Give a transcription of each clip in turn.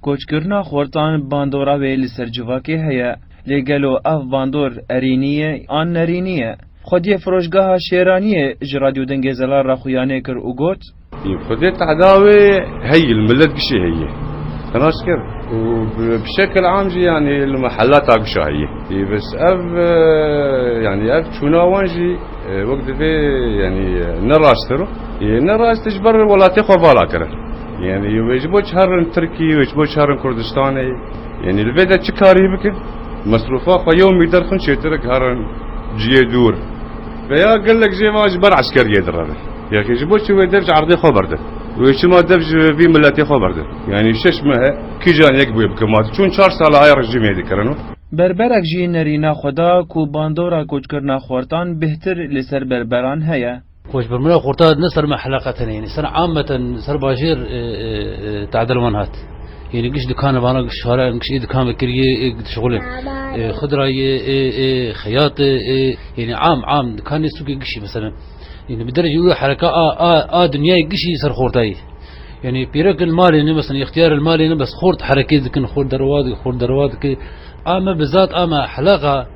Koçkirina xortan bandora wê li ser civakê heye. Lê gelo ev bandor erînî ye an nerînî ye? Xwediyê Firoşgeha Şêraniyê ji Radyo Dengê Zelal re xuyanê kir û got. Î Xwedê teda wê heyî li milet gişê heyî nas kir û bi şekil am jî yanî li mehella ta gişa heyî. Î bis ev yanî ev çûna wan jî wek divê yanî ne rast kir û ne rast ji ber welatê xwe vala kirin. Yanî wê ji bo çi herin li Tirkiyê wê ji bo çi herin Kurdistanê? Yanî li vê de çi karî bikin? Mesrûfa xwe yew mîter xwin çêtir e ku herin ciyê dûr ve ya gelek jê ve ji ber eskeriyê direvin. Yexî ji bo çi wê dev ji erdê xwe berdin? Wê çima dev ji vî miletê xwe berdin? Yanî şeş mehe kîjan yek bûye bi ku ma tu çûn çar sal e aya rejîmê dikirin û. Berberek jî nerîna xwe da ku bandora koçkirina xwartan bêhtir li ser berberan heye. Koçbermira xurta ne ser me heleqet hene yenî ser ameten ser bajêr tadil wan hat. Yenî giş dikane vana giş şare in giş ê dikan vekiriyê ê giş xulê xudrayê ê ê xeyatê ê yenî am am dikanê sûkê gişî meselen yenî bi derece wî hereka a a a dinyayê gişî ser xurtayî yenî pîrek in malê ne meselen îxtîyar in malê ne bes xurt herekê dikin xurt derwa dikin xurt derwa dikin a me bizat a me heleqa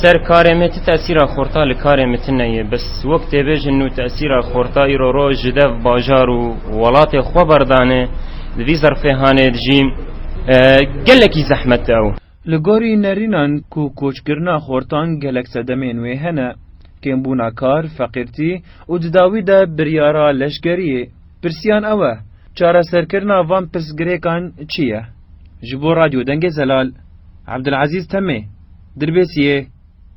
Ser karê me ti tesîra xorta li karê me tine ye. Bes wek tê bêjin nû tesîra xorta îro roj ji dev bajar û welatê xwe berdane. Di vî zerfêhanê de jî gelekî zehmet e ew. Li gorî nerînan ku koçkirina xortan gelek sedemên wê hene. Kêmbûna kar, feqîrtî û di dawî de biryara leşkeriyê. Pirsiyan ew e, çareserkirina van pirsgirêkan çi ye? Ji bo Radyo Dengê Zelal, Abdulazîz Temê, Dirbêsiyê.